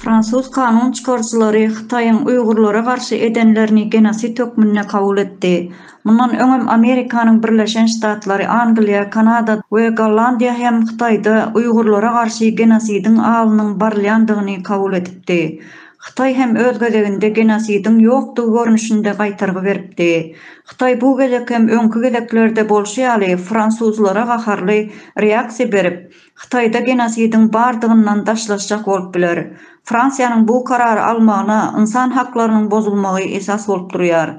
Fransuz kanun çykaryjylary Hytaýyň uýgurlara garşy edenlerini genosid hökmünde kabul etdi. Mundan öňem Amerikanyň Birleşen Ştatlary, Angliýa, Kanada we Gollandiýa hem Hytaýda uýgurlara garşy genosidiň alynyň barylýandygyny kabul edipdi. Hytaý hem öz gezeginde genosidiň ýokdugy görnüşinde gaýtargy beripdi. Hytaý bu gezek hem öňki gezeklerde bolşy ýaly fransuzlara gaharly reaksiýa berip, Hytaýda genosidiň bardygyndan daşlaşjak bolup biler. Fransiýanyň bu karary almagyna ynsan haklarynyň bozulmagy esas bolup durýar.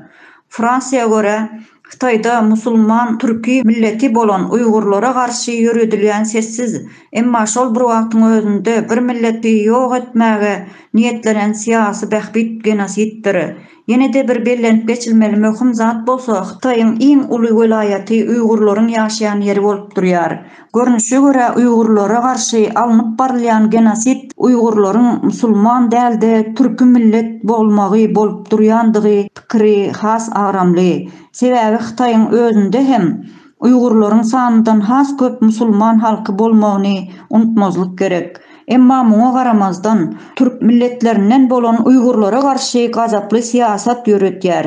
Fransiýa görä, Hytaýda musulman türki milleti bolan uýgurlara garşy ýöredilýän sessiz, emma şol bir wagtyň özünde bir milleti ýok etmäge niýetlenen syýasy bähbit genosiddir. Ýene-de bir bellenip geçilmeli möhüm zat bolsa Hytaýyň iň uly welaýaty uýgurlaryň ýaşaýan ýeri bolup durýar. Görnüşe görä uýgurlara garşy alnyp barylýan genosid uýgurlaryň musulman dälde türki millet bolmagy bolup durýandygy pikiri has agramly. Sebäbi Hytaýyň özünde hem uýgurlaryň sanyndan has köp musulman halky bolmagyny unutmazlyk gerek. Emma muňa garamazdan türk milletlerinden bolan uýgurlara garşy gazaply syýasat ýöretýär.